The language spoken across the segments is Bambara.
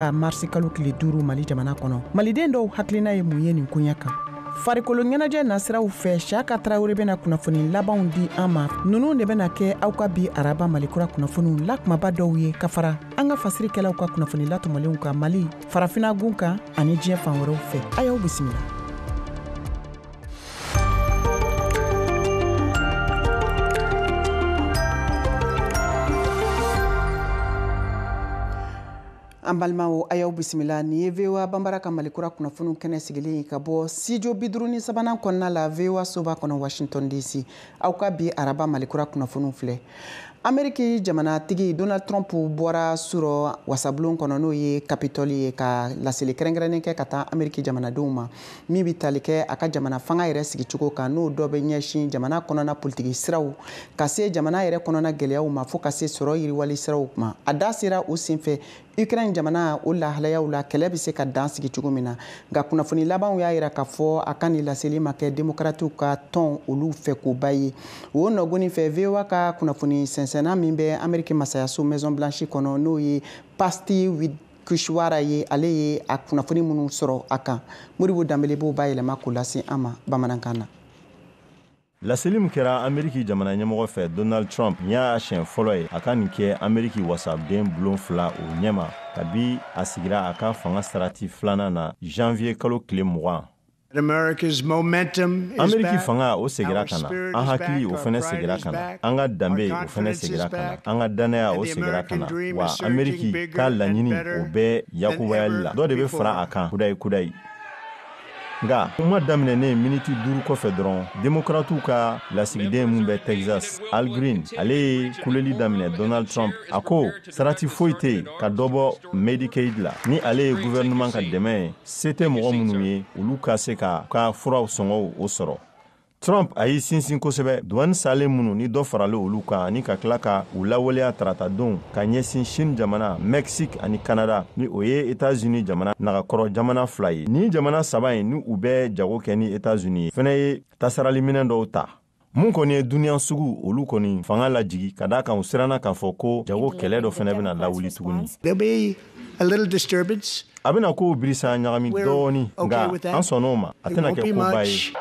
a marisi kalo tile duuru mali jamana kɔnɔ maliden dɔw hakilina ye mun ye nin koɲɛ kan farikolo ɲɛnajɛ nasiraw fɛ siyaka tarawele bɛna kunnafoni labanw di an ma ninnu de bɛna kɛ aw ka bi araba malikura kunnafoniw la kumaba dɔw ye ka fara an ka fasirikɛlaw ka kunnafoni latɔmɔlenw kan mali farafinagun kan ani diɲɛ fan wɛrɛw fɛ a y'aw bisimila an balimaw a y'aw bisimila nin ye voa banbara ka malikura kunnafoniw kɛnɛ sigilen ye ka bɔ studio bi duuru ni sabanan kɔnɔna la voa soba kɔnɔ washington dc aw ka bi araba malikura kunnafoniw filɛ ameriki jamanatigi donald trump bɔra surɔ wasabulon kɔnɔ n'o ye kapitɔli ye ka laseli kɛrɛnkɛrɛnnen kɛ ka taa ameriki jamanadenw ma min bɛ tali kɛ a ka jamana fanga yɛrɛ sigicogo kan n'o dɔ bɛ ɲɛsin jamana kɔnɔna politiki siraw ka se jamana yɛrɛ kɔnɔna gɛlɛyaw ma fo ka se sɔrɔ yiriwali siraw ma a da sera o senfɛ Ukraine jamana o lahalayaw la kɛlɛ bɛ se ka dan sigi cogo min na nka kunnafoni labanw y'a yira k'a fɔ a ka nin laseli ma kɛ demokratiw ka tɔn olu fɛkoba ye o nɔgɔnin fɛ voa ka kunnafoni sɛnsɛnna min bɛ ameriki masayaso maison blanche kɔnɔ n'o ye patsy widakuswara ye ale ye a kunnafoni minnu sɔrɔ a kan modibo danbele b'o bayɛlɛma k'o lase an ma bamanankan na Laseli min kɛra Ameriki jamana ɲɛmɔgɔ fɛ Donald Trump nin y'a siɲɛ fɔlɔ ye a ka nin kɛ Ameriki wasaden bulon fila o ɲɛma kabi a sigira a ka fanga sarati filanan na janvier kalo tile mugan. Ameriki fanga o segira ka na, an hakili o fɛnɛ segira ka na, an ka danbe o fɛnɛ segira ka na, an ka dannaya o segira ka na, wa Ameriki ka laɲini o bɛ yakubayali la, dɔ de bɛ fara a kan kudayi kudayi. nka kuma daminɛnen miniti duuru kɔfɛ dɔrɔn demokratiw ka lasigiden min bɛ texas al green ale ye kuleli daminɛ donald trump a ko sarati foyi tɛ yen ka dɔ bɔ medicaid la ni ale ye guvɛrɛnɛman ka dɛmɛ ye se tɛ mɔgɔ minnu ye olu ka se ka ka furaw sɔngɔw o sɔrɔ Trump a y'i sinsin kosɛbɛ duwani salen minnu ni dɔ faralen olu kan ani ka tila ka u lawaleya taratadon ka ɲɛsin chine jamana mexique ani canada ni o ye etats unis jamana nagakɔrɔ jamana fila ye nin jamana saba ye ni u bɛ jago kɛ ni etats unis ye fɛnɛ ye tasarali minɛn dɔw ta mun kɔni ye duniya sugu olu kɔni fanga lajigi ka da a kan u siranna k'a fɔ ko jago kɛlɛ dɔ fɛnɛ bɛna lawuli tuguni a little disturbance. A bɛna kow birisa ɲagami dɔɔni nka an sɔnna o ma a tɛna kɛ koba ye.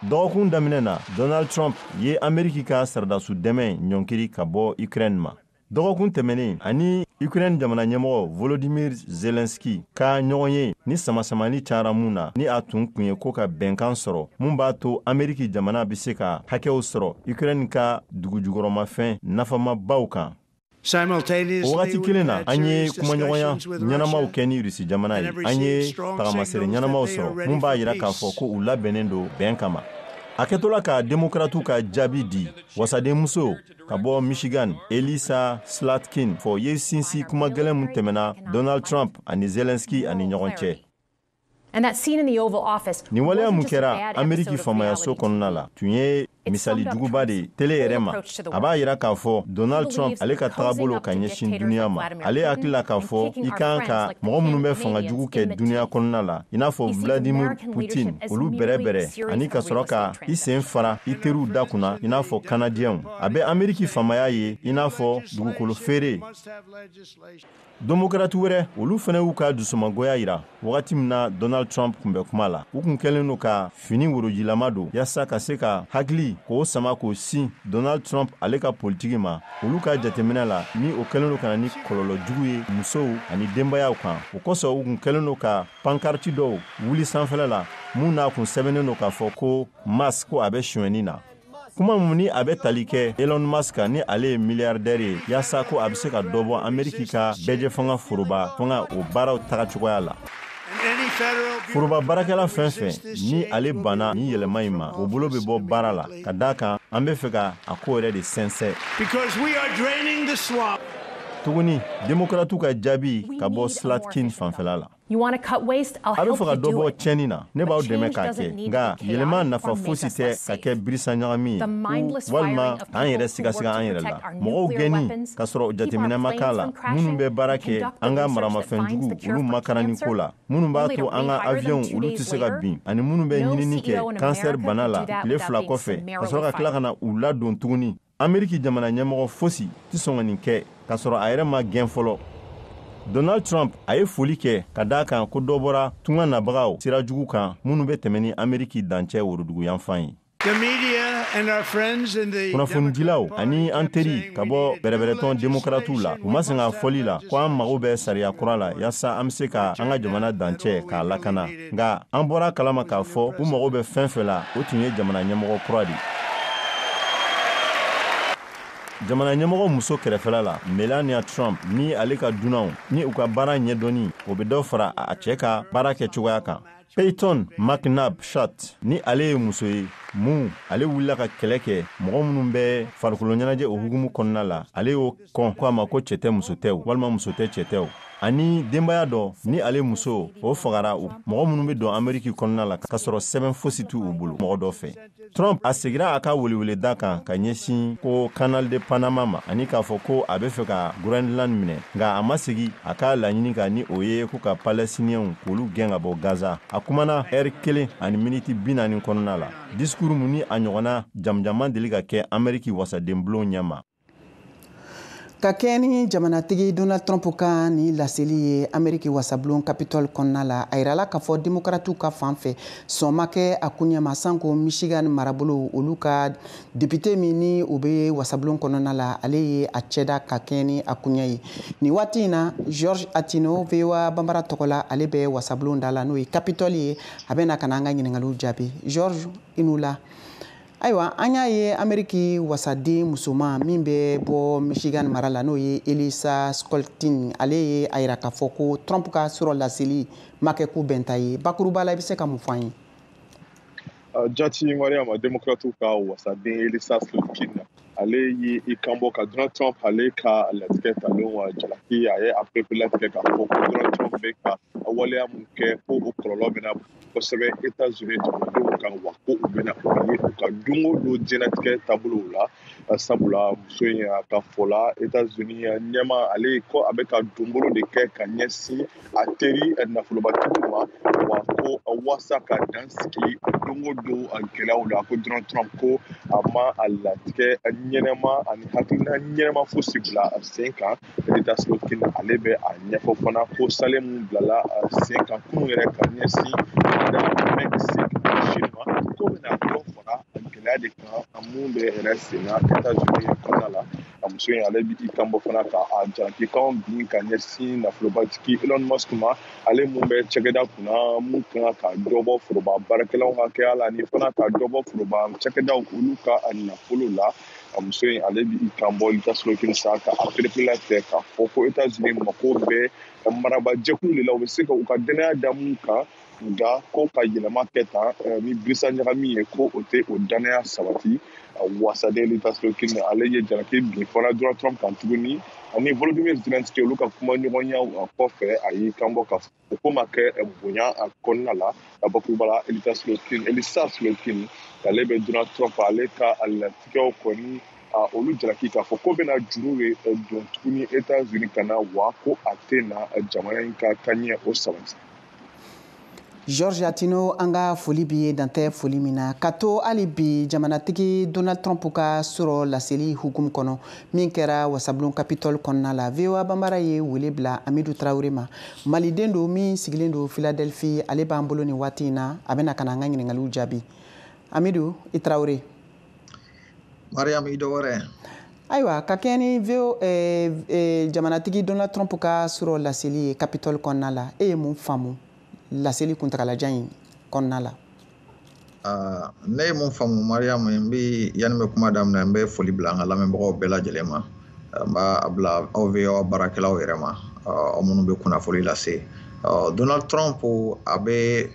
Dɔgɔkun daminɛ na, Donald Trump ye Ameriki ka saradasu dɛmɛ ɲɔnkiri ka bɔ Ukraine ma. Dɔgɔkun tɛmɛnen a ni Ukraine jamana ɲɛmɔgɔ Volodymyr Zelensky ka ɲɔgɔnye ni samasamani cayara mun na ni a tun kun ye ko ka bɛnkan sɔrɔ mun b'a to Ameriki jamana bɛ se ka hakɛw sɔrɔ Ukraine ka dugujukɔrɔmafɛn nafamabaw kan. o wagati kelen na an ye kumaɲɔgɔnya ɲɛnamaw kɛ ni rusi jamana ye an ye tagamasere ɲɛnamaw sɔrɔ mun b'a yira k'a fɔ ko u labɛnnen don bɛn kama a kɛtɔla ka demokratiw ka jaabi di wasadenmuso ka bɔ michigan elissa slotkin fɔ ye sinsi kuma gɛlɛn mun tɛmɛna donald trump ani zelenski ani ɲɔgɔn cɛ ni waleya mun kɛra ameriki faamayaso kɔnɔna la tun ye misali juguba de tele yɛrɛ ma a b'a yira k'a fɔ donald trump ale ka tagabolo ka ɲɛsin duniɲa ma ale hakili la k'a fɔ i kan ka mɔgɔ minnu bɛ fanga jugu kɛ duniɲa kɔnɔna la i n'a fɔ vladimir putin olu bɛrɛbɛrɛ ani ka sɔrɔ ka i sen fara i teriw da kunna i n'a fɔ kanadiyɛnw a bɛ ameriki faamaya ye i n'a fɔ dugukolo feere Demokrati wɛrɛ olu fɛnɛ y'u ka dusumangoya yira wagati min na Donald Trump kun bɛ kuma la. U kun kɛlen don ka fini worojilama don yaasa ka se ka hakili k'o sama k'o sin Donald Trump ale ka politiki ma. Olu ka jateminɛ la, ni o kɛlen don ka na ni kɔlɔlɔ jugu ye musow ani denbayaw kan. O kosɔn u kun kɛlen don ka pankarti dɔw wuli sanfɛla la minnu n'a kun sɛbɛnnen don k'a fɔ ko Musk ko a bɛ sonyɛni na. kuma mun ni a bɛ tali kɛ elon musk ni ale ye miliyardɛri ye yaasa ko a bɛ se ka dɔ bɔ ameriki ka bɛɛjɛ fanga foroba fanga o baaraw taga cogoya la foroba baarakɛla fɛn fɛn ni ale banna ni yɛlɛma in ma o bolo bɛ bɔ baara la ka d'a kan an bɛ fɛ ka a ko yɛrɛ de sɛnsɛ tuguni demokratiw ka jaabi ka bɔ slotkin fanfɛla la You want to cut waste? I'll a bɛ fɛ ka dɔ bɔ tiɲɛni na ne b'aw dɛmɛ k'a kɛ nka yɛlɛma nafa fosi tɛ ka kɛ birisa ɲagami ye walima k'an yɛrɛ sigasiga an yɛrɛ la mɔgɔw gɛnni ka sɔrɔ jateminɛ ma k'a la minnu bɛ baara kɛ an ka maramafɛn jugu olu makaranni ko la minnu b'a to an ka aviyɔnw olu tɛ se ka bin ani minnu bɛ ɲinini kɛ kansɛri bana la tile fila kɔfɛ ka sɔrɔ ka tila ka na u ladon tuguni ameriki jamana ɲɛmɔgɔ fosi tɛ sɔn ka nin kɛ k'a sɔrɔ a yɛrɛ ma gɛn fɔlɔ donald trump a ye foli kɛ ka d'a kan ko dɔ bɔra tunga nabagaw sira jugu kan minnu bɛ tɛmɛ ni ameriki dancɛ woroduguyanfan ye kunnafonidilaw ani an teri ka bɔ bɛrɛbɛrɛtɔn demokratiw la u ma sɛgɛn a fɔli la ko an mago bɛ sariya kura la yaasa an bɛ se ka an ka jamana dancɛ k'a lakana nka an bɔr'a kalama k'a fɔ u mago bɛ fɛn fɛ la o tun ye jamana ɲɛmɔgɔ kura de jamana ɲɛmɔgɔ muso kɛrɛfɛla la melania trump ni ale ka dunanw ni u ka baara ɲɛdɔnni o bɛ dɔ fara a cɛ ka baara kɛ cogoya kan payton mcnabb shat ni ale ye muso ye mun ale wulila ka kɛlɛ kɛ mɔgɔ minnu bɛ farikolo ɲɛnajɛ o hukumu kɔnɔna la ale y'o kɔn ko a ma ko cɛ tɛ muso tɛ walima muso tɛ cɛ tɛ ani denbaya dɔ ni ale muso o fagara mɔgɔ minnu bɛ don ameriki kɔnɔna la ka sɔrɔ sɛbɛn fosi t'u bolo mɔgɔ dɔ fɛ trump a segira a ka weleweleda kan ka ɲɛsin ko canal de panama ma ani k'a fɔ ko a bɛ fɛ ka groenland minɛ nka a ma segi a ka laɲini kan ni o ye ko ka palɛstiniyɛnw k'olu gɛn ka bɔ gaza a kumana ɛri kelen ani miniti bi naani kɔnɔna la disikuru mun ni a ɲɔgɔnna jamanjan ma deli ka kɛ ameriki wasadenbulon ɲɛma ka kɛɲɛ ni jamanatigi donald trump ka nin laseli ye ameriki wasabulon capitol kɔnɔna la a yirala k'a fɔ demokratiw ka fan fɛ sɔn ma kɛ a koɲɛ ma sanko michigan marabolo olu ka depite min ni o bɛ wasabulon kɔnɔna la ale ye a cɛda ka kɛɲɛ ni a koɲɛ ye nin waati in na george atino voa banbara tɔgɔ la ale bɛ wasabulon da la n'o ye capitol ye a bɛ na ka na an ka ɲininkaliw jaabi george i ni wula ayiwa an y'a ye ameriki wasaden musoman min bɛ bɔ michigan mara la n'o ye elissa slotkin ale ye a yira k'a fɔ ko trump ka surɔ laseli ma kɛ ko bɛnta ye bakuruba la i bɛ se ka mun fɔ an ye ah, jati mariama demokratiw ka wasaden elissa slotkin ale ye i kanbɔ ka donald trump ale ka latigɛ talenw jalaki a ye a pereperelatigɛ k'a fɔ ko donald trump bɛ ka waleya mun kɛ ko o kɔlɔlɔ bɛna kosɛbɛ États-Unis jamanadenw kan wa ko u bɛna o ye u ka don o don diɲɛnatigɛ taabolow la sabula muso in a ka fɔ la États-Unis ɲɛmaa ale ko a bɛ ka donbolo de kɛ ka ɲɛsin a teri nafolobatigiw ma wa ko waasa ka dan sigi don o don gɛlɛyaw la ko Donald Trump ko a ma a latigɛ ɲɛnama ani hakilina ɲɛnama fosi bila sen kan Elissa Slotkin ale bɛ a ɲɛfɔ fana ko saalen min bilala sen kan kunun yɛrɛ ka ɲɛsin Mexique Chine ma ko bɛna dɔ fara gɛlɛya de kan mun bɛ yɛrɛ sen na Etats-Unis kɔnɔna la a muso in ale bɛ i kanbɔ fana ka a jalakikanw bin ka ɲɛsin nafolobatigi Elon Musk ma ale mun bɛ cakɛda kunna mun ka kan ka dɔ bɔ foroba baarakɛlaw hakɛya la ani fana ka dɔ bɔ foroba cakɛdaw olu ka nafolo la a muso in ale b'i kanbɔ elissa slotkin sa ka a pereperelatigɛ k'a fɔ ko etazini mako bɛ marabajɛkulu de la u bɛ se ka u ka dannaya da mun kan nka ko ka yɛlɛma kɛ tan eh, ni birisa ɲagami ye ko o tɛ o dannaya sabati wasaden elissa slotkin ale ye jalaki bin fana donald trump kan tuguni ani volodymyr zelensky olu ka kumaɲɔgɔnyaw kɔfɛ a y'i kanbɔ ka o ko ma kɛ eh, bonya a kɔnɔna la a bakuruba la elita slotkin elissa slotkin ale bɛ donald trump ale ka latigɛw kɔni ah, olu jalaki k'a fɔ k'o bɛna juru ye eh, don tuguni etats unis kan na wa ko a tɛna eh, jamana in ka taɲɛ o sabati george atino an ka foli b'i ye dan tɛ foli min na ka to hali bi jamanatigi donald trump ka surɔ laseli hukumu kɔnɔ min kɛra wasabulon capitol kɔnɔna la voa banbara ye wele bila amidu tarawele ma maliden don min sigilen don filadelfi ale b'an bolo nin waati in na a bɛna ka na an ka ɲininkaliw jaabi amidu i tarawele mariyamu i dɔ wɛrɛ ayiwa ka kɛɲɛ ni vo eh, eh, jamanatigi donald trump ka surɔ laseli ye capitol kɔnɔna la e ye mun faamu laseli kuntagalajan in kɔnɔna la Ah, ne ye min faamu mariyamu n bɛ yanni n bɛ kuma daminɛ n bɛ foli bila an ka lamɛnbagaw bɛɛ lajɛlen ma ah, n b'a bila aw voa baarakɛlaw yɛrɛ ma ah, aw minnu bɛ kunnafoli lase donald trump a bɛ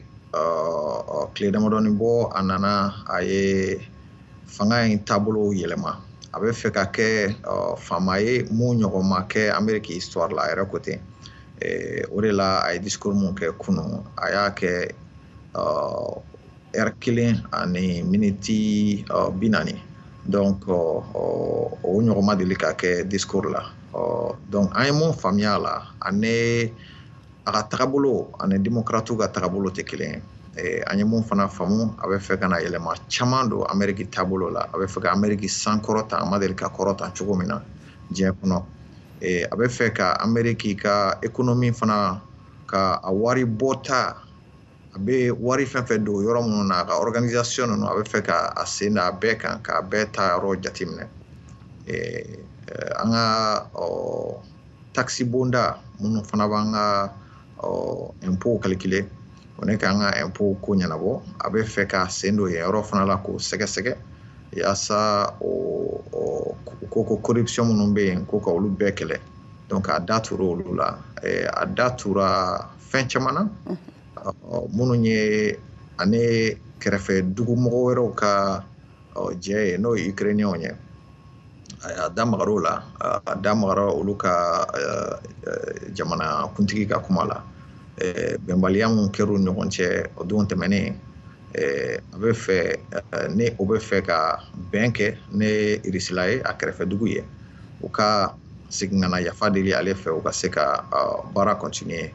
tile damadɔnin bɔ a nana a ye fanga in taabolo yɛlɛma a bɛ fɛ ka kɛ faama ye min ɲɔgɔn ma kɛ ameriki histoire la a yɛrɛ ko ten eh, o de la a ye discours min kɛ kunun a y'a kɛ ɛri kelen ani miniti bi naani donc o ɲɔgɔn ma deli ka kɛ discours la donc an ye min faamuya a la ani a ka tagabolo ani démocrate ka tagabolo tɛ kelen ye Eh, an ye min fana faamu a bɛ fɛ ka na yɛlɛma caman don ameriki taabolo la a bɛ fɛ ka ameriki sankɔrɔta a ma deli ka kɔrɔta cogo min na diɲɛ kɔnɔ eh, a bɛ fɛ ka ameriki ka ekonomi fana ka a wari bɔta a bɛ wari fɛn fɛn don yɔrɔ minnu na a ka organisation ninnu a bɛ fɛ ka a sen da a bɛɛ kan k'a bɛɛ taayɔrɔ jateminɛ an ka takisi bonda minnu fana b'an ka impôt calculer o ni k'an ka impôt ko ɲɛnabɔ a bɛ fɛ k'a sen don yen yɔrɔ fana la k'o sɛgɛsɛgɛ yaasa o ko ko corruption minnu bɛ yen ko ka olu bɛɛ kɛlɛ donc a da tura olu la eh, a da tura fɛn caman na minnu ye ani kɛrɛfɛ dugumɔgɔ wɛrɛw ka jɛ ye n'o ye ukrainienw ye a da magar'o la a da magara olu ka eh, eh, jamana kuntigi ka kuma la bɛnbaliya min kɛr'u ɲɔgɔn cɛ o don tɛmɛnen Eh, a bɛ fɛ eh, ni o bɛ fɛ ka bɛn kɛ ni irisila ye a kɛrɛfɛ dugu ye u ka segin ka na yafa deli ale fɛ u ka se ka baara continuer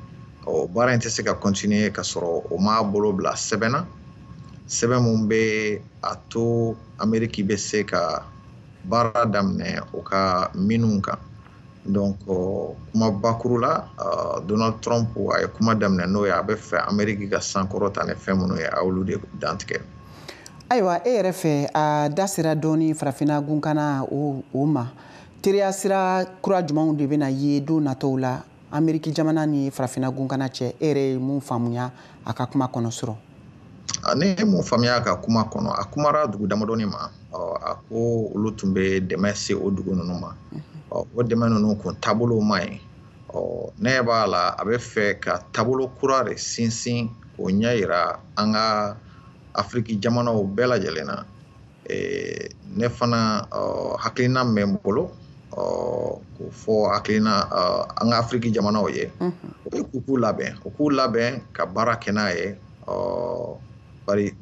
ɔ baara in tɛ se ka continuer ka sɔrɔ o m'a bolo bila sɛbɛn na sɛbɛn min bɛ a to ameriki bɛ se ka baara daminɛ u ka minew kan donc kuma bakuru la donald trump a ye kuma daminɛ n'o ye a bɛ fɛ ameriki ka sankɔrɔta ni fɛn minnu ye a y'olu de dantigɛ ayiwa e yɛrɛ fɛ a da sera dɔɔni farafinna gunkana o o ma teriya sira kura jumɛnw de bɛna ye don nataw la ameriki jamana ni farafinna gunkana cɛ e yɛrɛ ye mun faamuya a ka kuma kɔnɔ surɔ ne ye mun faamuya a ka kuma kɔnɔ a kumara dugu damadɔni ma a ko olu tun bɛ dɛmɛ se o dugu ninnu ma o dɛmɛ ninnu kun taabolo ma ye ɔ ne b'a la a bɛ fɛ ka taabolo kura de sinsin k'o ɲɛ yira an ka afiriki jamanaw bɛɛ lajɛlen na ne fana hakilina min bɛ n bolo k'o fɔ hakilina an ka afiriki jamanaw ye o ye k'u k'u labɛn u k'u labɛn ka baara kɛ n'a ye bari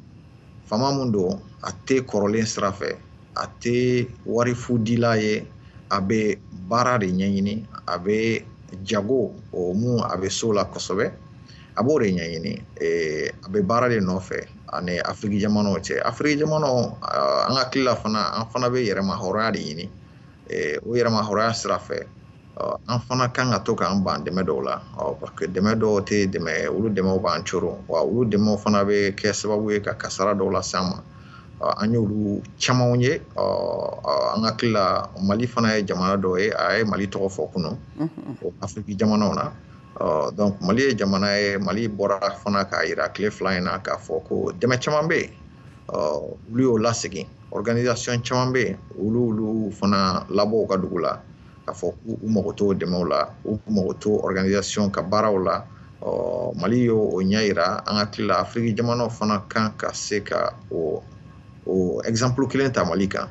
faama min don a tɛ kɔrɔlen sira fɛ a tɛ wari fu dila ye a bɛ baara de ɲɛɲini a bɛ jago o mun a bɛ s'o la kosɛbɛ a b'o de ɲɛɲini a bɛ baara de nɔfɛ a ni afiriki jamanaw cɛ afiriki jamanaw an hakili la fana an fana bɛ yɛrɛma hɔrɔnya de ɲini o yɛrɛma hɔrɔnya sira fɛ an fana kan ka to k'an ban dɛmɛ dɔw la parce que dɛmɛ dɔw tɛ dɛmɛ olu dɛmɛw b'an coron wa olu dɛmɛw fana bɛ kɛ sababu ye ka kasara dɔw lase an ma an y'olu camanw ye an hakili la mali fana ye jamana dɔ ye a ye mali tɔgɔ fɔ kunun o afiriki jamanaw na donc mali ye jamana ye mali bɔra fana k'a yira tile fila in na k'a fɔ ko dɛmɛ caman bɛ yen olu y'o lasegin organisation caman bɛ yen olu olu fana labɔ u ka dugu la k'a fɔ k'u mago t'o dɛmɛw la u mago t'o organisation ka baaraw la ɔ mali y'o o ɲɛ yira an hakili la afiriki jamanaw fana kan ka se ka o o exemple kelen ta mali kan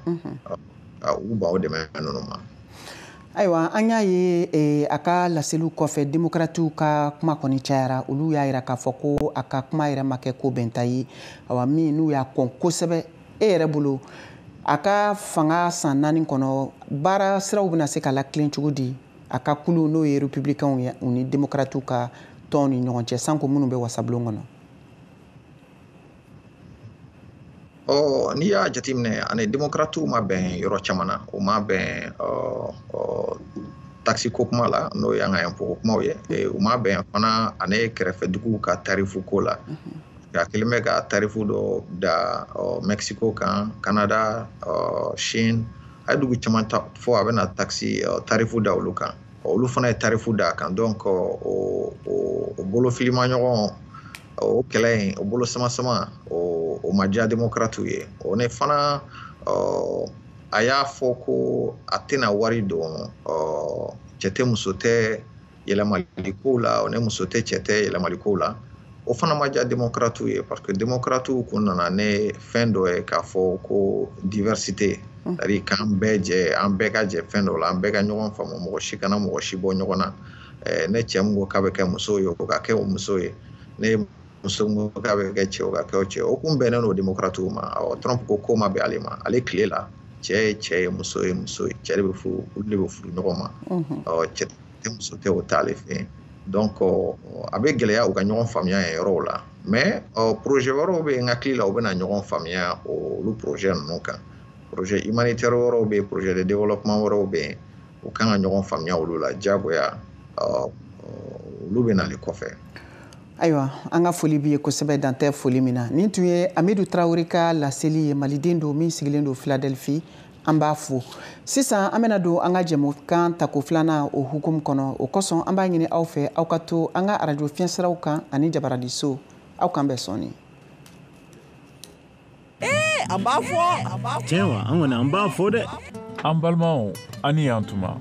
k'u ban o dɛmɛ ninnu ma ayiwa an y'a ye eh, a ka laseliw kɔfɛ demokratiw ka kuma kɔni cayara olu y'a yira k'a fɔ ko a ka kuma yɛrɛ ma kɛ ko bɛnta ye awa min n'u y'a kɔn kosɛbɛ e yɛrɛ bolo a ka fanga san naani kɔnɔ baara siraw bɛna se ka latilen cogo di a ka kulu n'o ye republicainw ye u ni démocratiw ka tɔn ni ɲɔgɔn cɛ sanko minnu bɛ wasabulon kɔnɔ ɔ n'i y'a jateminɛ a ni démocratiw ma bɛn yɔrɔ caman na u ma bɛn taxe ko kuma la n'o y'an ka impôt ko kumaw ye u ma bɛn fana a ni kɛrɛfɛ duguw ka tarifu ko la nka a kelen bɛ ka tarifu dɔ da mɛsiko kan kanada sini a ye dugu caman fɔ a bɛna takisi tarifu da olu kan olu fana ye tarifu da a kan donc o bolofilima ɲɔgɔn o kɛlɛ in o bolo sama sama o ma diya demokaratiw ye o ne fana a y'a fɔ ko a tɛna wari don cɛ tɛ muso tɛ yɛlɛmali kow la o ni muso tɛ cɛ tɛ yɛlɛmali kow la o fana ma diya demokaratiw ye parce que demokaratiw kun nana ni fɛn dɔ ye k'a fɔ ko diversité c'est k'an bɛɛ jɛ an bɛɛ ka jɛ fɛn dɔ la an bɛɛ ka ɲɔgɔn faamu mɔgɔ si kana mɔgɔ si bɔ ɲɔgɔn na ni cɛ min ko k'a bɛ kɛ muso ye o ka kɛ o muso ye ni muso min ko k'a bɛ kɛ cɛ o ka kɛ o cɛ o kun bɛnnen don demokaratiw ma awɔ trump ko k'o ma bɛn ale ma ale tile la cɛ ye cɛ ye muso ye muso ye cɛ de bɛ furu olu de bɛ furu ɲɔgɔn ma awɔ cɛ tɛ muso tɛ o t'ale fɛ yen donc a bɛ gɛlɛya u ka ɲɔgɔn faamuya yen yɔrɔw la mais projet wɛrɛw bɛ yen n hakili la u bɛna ɲɔgɔn faamuya olu projet ninnu kan projet humanitaire wɛrɛw bɛ yen projet de développement wɛrɛw bɛ yen u kan ka ɲɔgɔn faamuya olu la diyagoya olu bɛ nali kɔfɛ ayiwa an ka foli b'i ye kosɛbɛ dan tɛ foli min na nin tun ye amidu tarawele ka laseli ye maliden don min sigilen don filadelfi an b'a fo sisan an bɛna don an ka jɛmukan tako filanan o hukumu kɔnɔ o kosɔn an b'a ɲini aw fɛ aw ka to an ka arajo fiɲɛsiraw kan ani jabaraninso aw k'an bɛn sɔɔni eh, an b'a fɔ tiɲɛ wa an kɔni an b'a fɔ dɛ an balimaw a ni yan tuma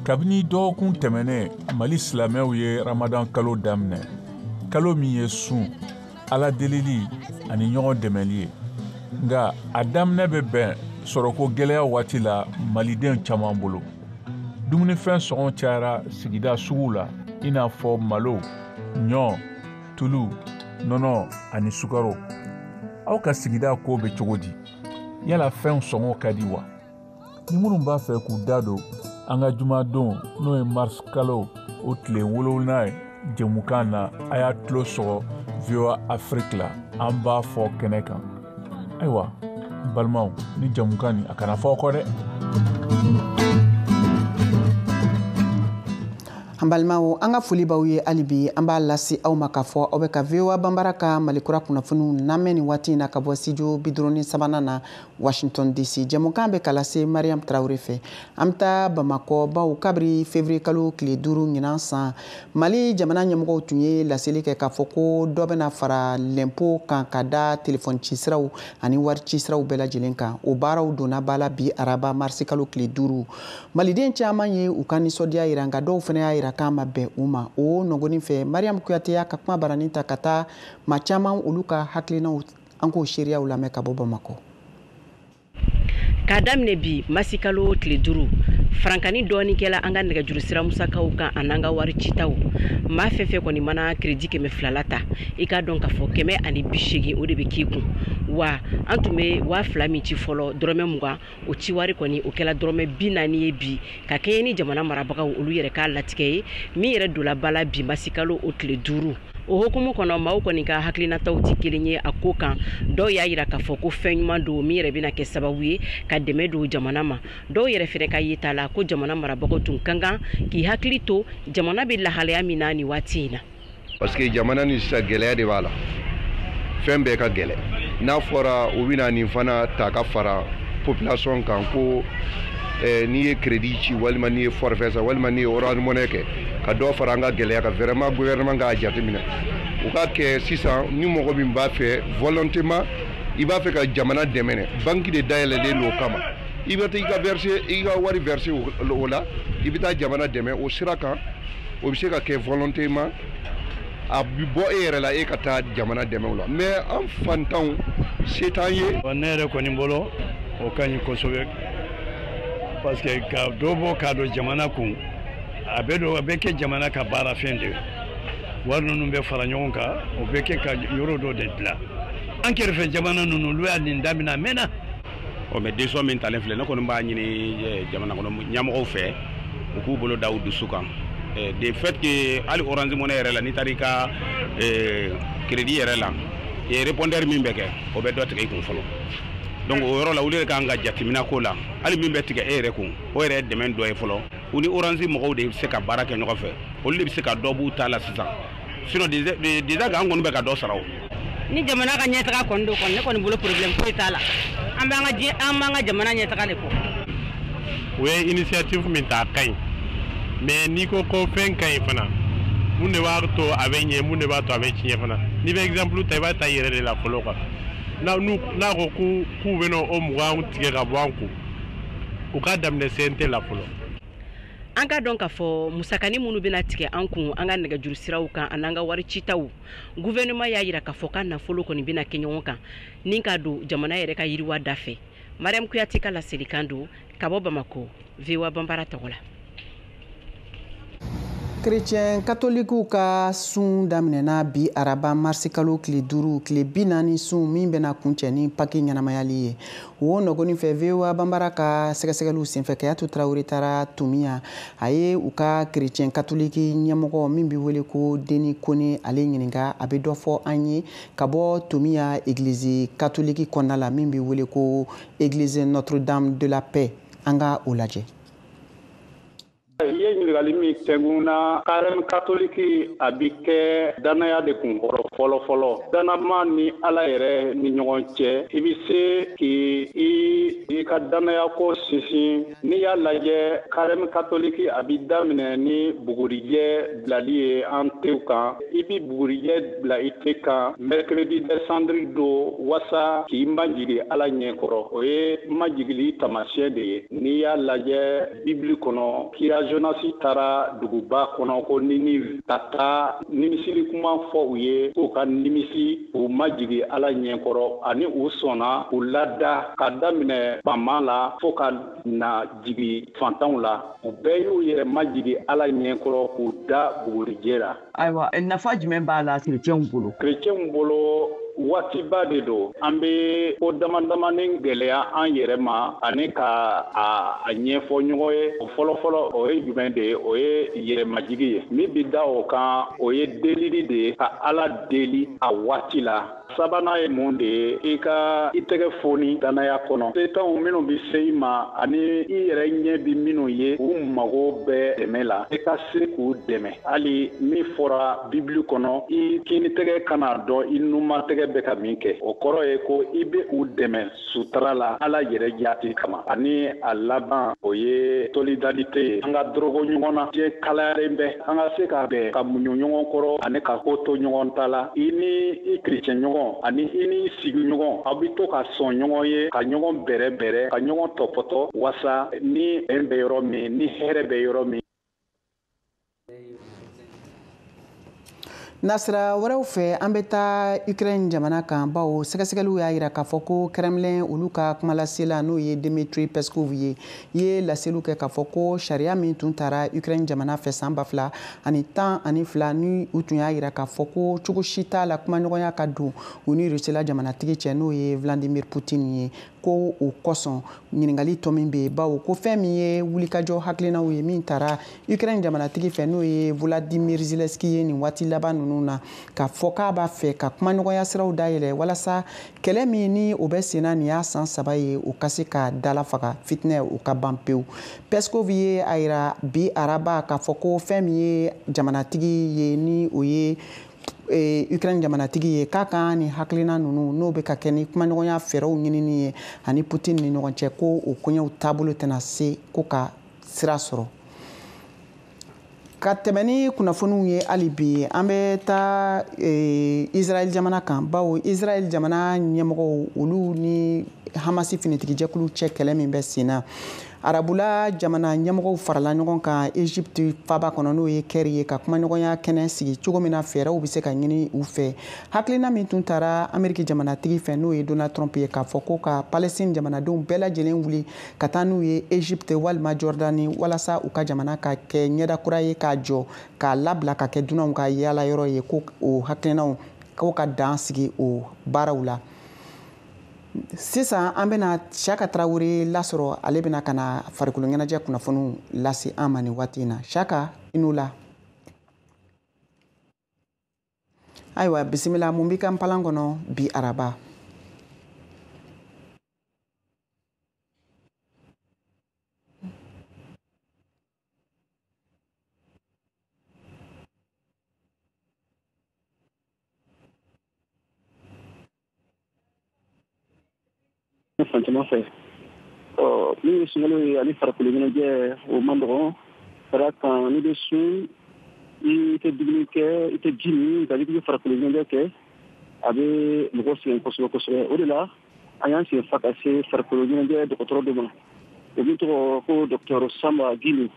kabini dɔgɔkun tɛmɛnen mali silamɛw ye ramadan kalo daminɛ kalo min ye sun ala delili ani ɲɔgɔn dɛmɛli ye nka a daminɛ bɛ bɛn sɔrɔko gɛlɛya waati la maliden caman bolo dumunifɛn sɔngɔ cayara sigida suguw la i n'a fɔ malo ɲɔ tulu nɔnɔ ani sukaro aw ka sigida ko bɛ cogo di yala fɛnw sɔngɔ ka di wa ni minnu b'a fɛ k'u da don an ka jumadon n'o ye mars kalo o tile wolonwula ye jɛmukan na a y'a tulo sɔgɔ voa afiriki la an b'a fɔ kɛnɛ kan ayiwa n balimaw nin jɛmukan nin a kana fɔ aw kɔ dɛ an balimaw an ka foli b'aw ye hali bi an b'a lase aw ma k'a fɔ aw bɛ ka voa banbara ka malikura kunnafoniw lamɛn nin waati in na ka bɔ studio biduuru ni sabanan na washington dc jɛmukan bɛ ka lase mariam tarawele fɛ an bɛ taa bamakɔ baw kabiri fevrier kalo tile duuru ɲinan san mali jamana ɲɛmɔgɔw tun ye laseli kɛ k'a fɔ ko dɔ bɛna fara lɛnpo kan ka da telefɔni ci siraw ani wari ci siraw bɛɛ lajɛlen kan o baaraw donna ba la bi araba marisi kalo tile duuru maliden caman ye u ka nisɔndiya yira nka dɔw fana y'a yira k'a ma bɛn u ma o nɔgɔnin fɛ mariam kuyate y'a ka kuma baranin ta ka taa maa caman olu ka hakilinaw an k'o seereyaw lamɛn ka bɔ bamakɔ k'a daminɛ bi masikalo tile duuru farankani dɔɔni kɛla an ka nɛgɛjuru sira musakaw kan an'an ka wari citaw maa fɛn fɛn kɔni mana kiredi kɛmɛ filala ta i k'a dɔn k'a fɔ kɛmɛ ani bisegin o de bɛ k'i kun wa an tun bɛ waa fila min ci fɔlɔ dɔrɔmɛ mugan o ciwari kɔni o kɛla dɔrɔmɛ bi naani ye bi ka kɛɲɛ ni jamana marabagaw olu yɛrɛ ka latigɛ ye min yɛrɛ dola ba la bi masikalo o tile duuru o hukumu kɔnɔ maaw kɔni ka hakilinataw tɛ kelen ye a ko kan dɔw y'a yira k'a fɔ ko fɛn ɲuman don min yɛrɛ bɛna kɛ sababu ye ka dɛmɛ don jamana ma dɔw yɛrɛ fɛnɛ ka yeta la ko jamana marabagaw tun ka kan k'i hakili to jamana bɛ lahalaya min na nin waati in na parce que jamana ni sisan gɛlɛya de b'a la fɛn bɛɛ ka gɛlɛ n'a fɔra u bɛna nin fana ta ka fara population kan ko n'i ye crédit ci walima n'i ye forfait san walima n'i ye orange money kɛ ka dɔ fara an ka gɛlɛya kan vraiment gouvernement k'a jateminɛ u k'a kɛ sisan ni mɔgɔ min b'a fɛ volontément i b'a fɛ ka jamana dɛmɛ banki de dayɛlɛlen don o kama i bɛ taa i ka versé i ka wari versé o la i bɛ taa jamana dɛmɛ o sira kan o bɛ se ka kɛ volontément a bi bɔ e yɛrɛ la e ka taa jamana dɛmɛ o la mais an faantanw se t'an ye ne yɛrɛ kɔni bolo o ka ɲi kosɛbɛ parce que ka dɔ bɔ k'a don jamana kun a bɛ don a bɛ kɛ jamana ka baarafɛn de wari ninnu bɛ fara ɲɔgɔn kan o bɛ kɛ ka yɔrɔ dɔ de dilan an kɛrɛfɛ jamana ninnu olu y'a nin daminɛ a mɛnna ɔ mais décision min talen filɛ ne kɔni b'a ɲini jamana kɔnɔ ɲɛmɔgɔw fɛ u k'u bolo da u dusu kan de fait que hali orange money yɛrɛ la n'i taara i ka crédit yɛrɛ la répondeur min bɛ kɛ o bɛ dɔ tigɛ i kun fɔlɔ donc o yɔrɔ la olu de kan ka jateminɛ k'o la hali min bɛ tigɛ e yɛrɛ kun o yɛrɛ ye dɛmɛ dɔ ye fɔlɔ u ni orange mɔgɔw de bɛ se ka baara kɛ ɲɔgɔn fɛ olu de bɛ se ka dɔ b'u ta la sisan sinon déjà ka an kɔni bɛ ka dɔ sara o ni jamana ka ɲɛtaga kɔni don kɔni ne kɔni bolo problème foyi t'a la an b'an ka diɲɛ an b'an ka jamana ɲɛtaga de kɔ u ye initiative min ta a ka ɲi mais n'i ko ko fɛn ka ɲi fana mun de b'a to a bɛ ɲɛ mun de b'a to a bɛ tiɲɛ fana n'i bɛ exemple ta i b'a ta i yɛrɛ de la fɔlɔ quoi n'a n'u n'a ko k'u k'u bɛna o mugan tigɛ ka bɔ an kun u k'a daminɛ CNT la fɔlɔ An ka dɔn k'a fɔ musakanin minnu bɛna tigɛ an kun an ka nɛgɛjuru siraw kan ani an ka wari citaw gouvernement y'a yira k'a fɔ ka nafolo kɔni bɛna kɛ ɲɔgɔn kan ni ka don jamana yɛrɛ ka yiriwa dafɛ mariyam kuyate ka laselikan don ka bɔ bamakɔ voa banbara tɔgɔ la kerecɛn katolikiw ka sun daminɛna bi araba marisikalo tile duuru tile bi naani sun min bɛna kuncɛ ni paki ɲɛnamayali ye o nɔgɔnin fɛ voa banbara ka sɛgɛsɛgɛliw senfɛ kayatu tarawele taara tominian a ye u ka kerecɛn katoliki ɲɛmɔgɔ min bɛ wele ko deni kone ale ɲininka a bɛ dɔ fɔ an ye ka bɔ tominian egilizi katoliki kɔnɔna la min bɛ wele ko eglise notre dame de la paix an ka o lajɛ i ye ɲininkali min kɛ n kun na karɛm katoliki a bi kɛ dannaya de kun kɔrɔ fɔlɔ fɔlɔ dannama ni ala yɛrɛ ni ɲɔgɔn cɛ i bi se k'i i i ka dannaya ko sinsin n'i y'a lajɛ karɛm katoliki a bi daminɛ ni bugurijɛ bilali ye an tenw kan i bi bugurijɛ bila i ten kan mercredi des cendres don wasa k'i majigi ala ɲɛ kɔrɔ o ye majigili tamasiyɛn de ye n'i y'a lajɛ bibili kɔnɔ kira jonasi taara duguba kɔnɔ ko ninive ka taa nimisili kuma fɔ u ye k'u ka nimisi u majigi ala ɲɛkɔrɔ ani u sɔnna u lada ka daminɛ faama la fɔɔ ka na jigi fantanw la u bɛɛ y'u yɛrɛ majigi ala ɲɛkɔrɔ k'u da bugurijɛ la ayiwa nafa jumɛn b'a la kerecɛnw bolo kerecɛnw bolo waatiba de don an bɛ ko damadamanin gɛlɛya an yɛrɛ ma ani ka a ɲɛfɔ ɲɔgɔn ye o fɔlɔfɔlɔ o ye jumɛn de ye o ye yɛrɛmajigi ye min bɛ da o kan o ye delili de ye ka ala deli a waati la sabanan ye mun de ye i ka i tɛgɛ foni dannaya kɔnɔ setanw minnu bi se i ma ani i yɛrɛ ɲɛ bi minnu ye u mago bɛ dɛmɛ la i ka se k'u dɛmɛ hali min fɔra bibili kɔnɔ i kini tɛgɛ kana dɔn i numan tɛgɛ bɛ ka min kɛ o kɔrɔ ye ko i be u dɛmɛ sutura la Ala yɛrɛ jaati kama ani a laban o ye solidarite ye an ka dorogo ɲɔgɔn na diɲɛ kalayalen bɛ an ka se ka bɛn ka muɲu ɲɔgɔn kɔrɔ ani ka ko to ɲɔgɔn ta la i ni i kerecɛn ɲɔgɔn ani i ni sigi ɲɔgɔn aw bɛ to ka sɔn ɲɔgɔn ye ka ɲɔgɔn bɛrɛ bɛrɛ ka ɲɔgɔn tɔpɔtɔ wasa ni bɛn bɛ yɔrɔ min ni hɛrɛ bɛ yɔrɔ min nasira wɛrɛw fɛ an bɛ taa ukraine jamana kan bawo sɛgɛsɛgɛliw y'a yira k'a fɔ ko kremlin olu ka kumalasela n'o ye dimitri peskov ye ye laseliw kɛ k'a fɔ ko sariya min tun tara ukraine jamana fɛ san ba fila ani tan ani fila ni u tun y'a yira k'a fɔ ko cogo si t'a la kumaɲɔgɔnya ka don u ni rusila jamanatigi cɛ n'o ye vladimir putin ye ko o kosɔn ɲininkali tɔ min bɛ yen bawo ko fɛn min ye wulikajɔ hakilinaw ye min tara ukraine jamanatigi fɛ n'o ye volodymyr zelensky ye nin waati laban ninnu na k'a fɔ k'a b'a fɛ ka kumaɲɔgɔnya siraw dayɛlɛ walasa kɛlɛ min ni o bɛ senna nin y'a san saba ye o ka se ka dalafaga fitinɛ o ka ban pewu peskov ye a yira bi araba k'a fɔ ko fɛn min ye jamanatigi ye ni o ye Eh, ukraine jamanatigi ye k'a kan ni hakilina ninnu n'o bɛ ka kɛ ni kumaɲɔgɔnya fɛɛrɛw ɲinini ye a ni putin ni ɲɔgɔn cɛ ko o koɲɛw taabolo tɛna se ko ka sira sɔrɔ ka tɛmɛ ni kunnafoniw ye hali bi an bɛ taa eh, israɛl jamana kan bawo israɛl jamana ɲɛmɔgɔw olu ni hamasi finitigijɛkulu cɛ kɛlɛ min bɛ sen na arabula jamana ɲɛmɔgɔw farala ɲɔgɔn kan egypte faba kɔnɔ n'o ye kɛri ye ka kumaɲɔgɔnya kɛnɛ sigi cogo min na fɛɛrɛw bɛ se ka ɲini u fɛ hakilina min tun tara ameriki jamanatigi fɛ n'o ye donald trump ye k'a fɔ ko ka palestine jamanadenw bɛɛ lajɛlen wuli ka taa n'u ye egypte walima jordani walasa u ka jamana ka kɛ ɲɛda kura ye k'a jɔ k'a labila ka kɛ dunanw ka yaala yɔrɔ ye ko o hakilinaw ko ka dan sigi o baaraw la sisan an bɛna siyaka tarawele lasɔrɔ ale bɛna ka na farikolo ɲɛnajɛ kunnafoniw lase an ma nin waati in na siyaka i ni wula ayiwa bisimila mun b'i ka npalan kɔnɔ bi araba Fatumata fɛn min ye sunkalo ye ani farikolo ɲɛnajɛ o man nɔgɔn ka d'a kan n'i bɛ sun i tɛ dumuni kɛ i tɛ ji min nka n'i bɛ farikolo ɲɛnajɛ kɛ a bɛ mɔgɔ sɛgɛn kosɛbɛ kosɛbɛ o de la an y'an sen fa ka se farikolo ɲɛnajɛ dɔgɔtɔrɔ dɔ ma o min tɔgɔ ko docteur samba gindo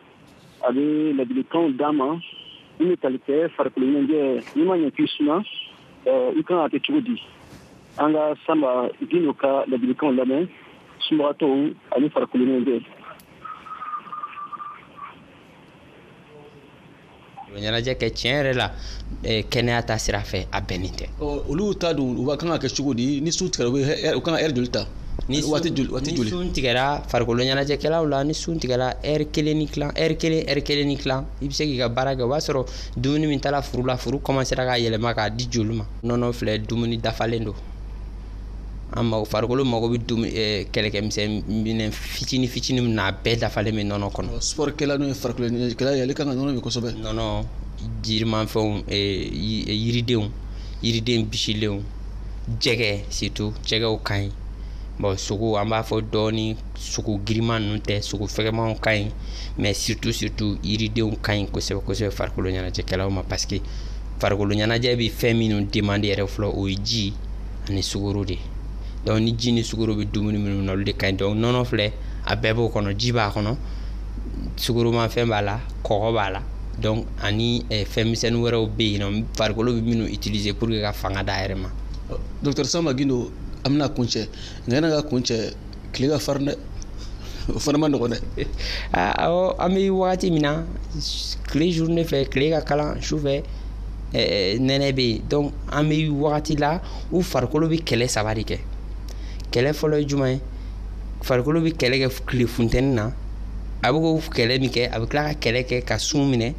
a bɛ ladilikanw d'an ma min bɛ tali kɛ farikolo ɲɛnajɛ n'i ma ɲɛ k'i sun i kan ka kɛ cogo di an ka samba gindo ka ladilikanw lamɛn sunbagatɔw ani farikolo ɲɛnajɛ ɲɛnajɛ kɛ tiɲɛ yɛrɛ la kɛnɛya ta sira fɛ a bɛnnen tɛ olu ta don u kan ka kɛ cogo di ni sun tigɛra u kan ka ɛri joli ta ni waati joli sun tigɛra farikolo ɲɛnajɛkɛlaw la ni sun tigɛra ɛri kelen ni tilan ɛri kelen ɛri kelen ni tilan i bɛ se k'i ka baara kɛ o b'a sɔrɔ dumuni min taara furu la furu kɔmansera k'a yɛlɛma k'a di joli ma nɔnɔ filɛ dumuni dafalen don an mago farikolo mago bɛ dum ɛɛ kɛlɛkɛmisɛn minɛn fitini fitini min na a bɛɛ dafalen bɛ nɔnɔ kɔnɔ ɔ sport kɛla n'o ye farikolo ɲɛnajɛkɛla ye ale kan ka nɔnɔ min kosɛbɛ nɔnɔ jirimafɛnw ee yiridenw yiriden bisilenw jɛgɛ surtout jɛgɛw ka ɲi bon sogo an b'a fɔ dɔɔni sogo girinman ninnu tɛ sogo fɛgɛmanw ka ɲi mais surtout surtout yiridenw ka ɲi kosɛbɛ kosɛbɛ farikolo ɲɛnajɛkɛlaw ma parce que farikolo ɲɛnajɛ bɛ fɛn minnu demander yɛrɛ fɔlɔ o ye ji ani sukaro de donc ni ji ni sukaro bɛ dumuni minnu na olu de ka ɲi donc nɔnɔ filɛ a bɛɛ b'o kɔnɔ ji b'a kɔnɔ sukaromafɛn b'a la kɔgɔ b'a la donc ani eh, fɛn misɛnnin wɛrɛw bɛ yen nɔ farikolo bɛ minnu utiliser pour que ka fanga d'a yɛrɛ ma docteur Samba Gindo an bɛna kuncɛ nka yanni ka kuncɛ tile ka farin dɛ o fana man nɔgɔn dɛ awɔ an bɛ wagati min na tile journée fɛ tile ka kalan su fɛ nɛnɛ bɛ yen donc an bɛ wagati la u farikolo bɛ kɛlɛ saba de kɛ kɛlɛ fɔlɔ ye jumɛn ye farikolo bɛ kɛlɛ kɛ tile funteni na a bɛ k'o kɛlɛ min kɛ a bɛ tila ka kɛlɛ kɛ ka sun minɛ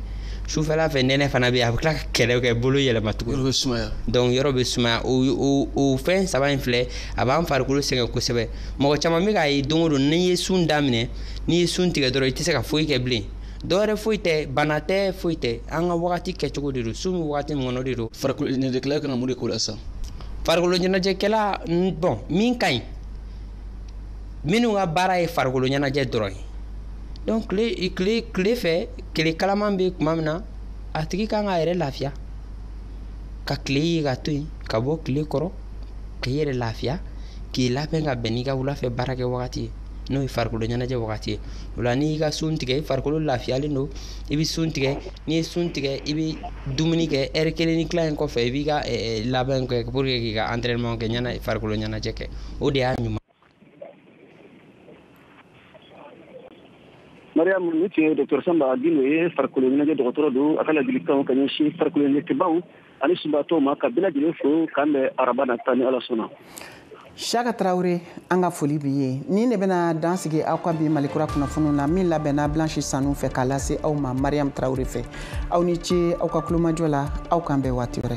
sufɛla fɛ nɛnɛ fana bɛ yen a bɛ tila ka kɛlɛ kɛ bolo yɛlɛma tugun yɔrɔ bɛ sumaya donc yɔrɔ bɛ sumaya o o o fɛn saba in filɛ a b'an farikolo sɛgɛn kosɛbɛ mɔgɔ caman bɛ k'a ye don o don n'i ye sun daminɛ n'i ye sun tigɛ dɔrɔn i tɛ se ka foyi kɛ bilen dɔwɛrɛ foyi tɛ bana tɛ foyi tɛ an ka wagati kɛcogo de don sun bɛ wagati min kɔnɔ de don farikolo ɲɛnajɛkɛla kan ka mun de k'o la sisan farikolo ɲɛnajɛkɛla bon min ka ɲi minnu ka baara ye farikolo ɲɛnajɛ dɔrɔn ye donc tile tile tile fɛ tile kalaman bɛ tuma min na a tigi kan k'a yɛrɛ lafiya ka tile ye ka to yen ka bɔ tile kɔrɔ k'i yɛrɛ lafiya k'i labɛn ka bɛn n'i ka wulafɛ baarakɛ wagati ye n'o ye farikolo ɲɛnajɛ wagati ye o la n'i ka sun tigɛ i farikolo lafiyalen don i bɛ sun tigɛ n'i ye sun tigɛ i bɛ dumuni kɛ heure kelen ni tila in kɔfɛ i b'i ka labɛn kɛ pour que k'i ka entraînement kɛ ɲɛna farikolo ɲɛnajɛ kɛ o de y'a ɲuman Mariam nin tun ye docteur Samba Gindo ye farikolo ɲɛnajɛ dɔgɔtɔrɔ don a ka ladilikanw ka ɲɛsin farikolo ɲɛnajɛkɛbaw ani sunbaatɔw ma ka bɛɛ lajɛlen fo k'an bɛn araba nata ni ala sɔnna Saka Tarawele an ka foli b'i ye nin de bɛna dan sigi aw ka bi malikura kunnafoniw na min labɛnna Blanche Sanu fɛ k'a lase aw ma Mariam Tarawele fɛ aw ni ce aw ka kulomajɔ la aw k'an bɛn waati wɛrɛ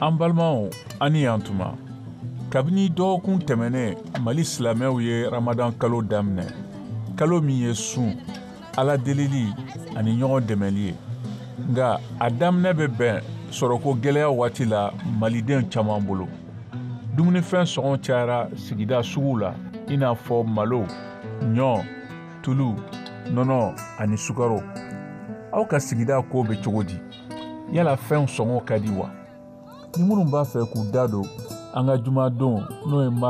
an balimaw aw ni yan tuma kabini dɔgɔkun tɛmɛnen mali silamɛw ye ramadan kalo daminɛ kalo min ye sun ala delili ani ɲɔgɔn dɛmɛli ye nka a daminɛ bɛ bɛn sɔrɔko gɛlɛya waati la maliden caman bolo dumunifɛn sɔngɔ cayara sigida suguw la i n'a fɔ malo ɲɔ tulu nɔnɔ ani sukaro aw ka sigida ko bɛ cogo di yala fɛnw sɔngɔ ka di wa ni minnu b'a fɛ k'u da don an ka jumadon n'o ye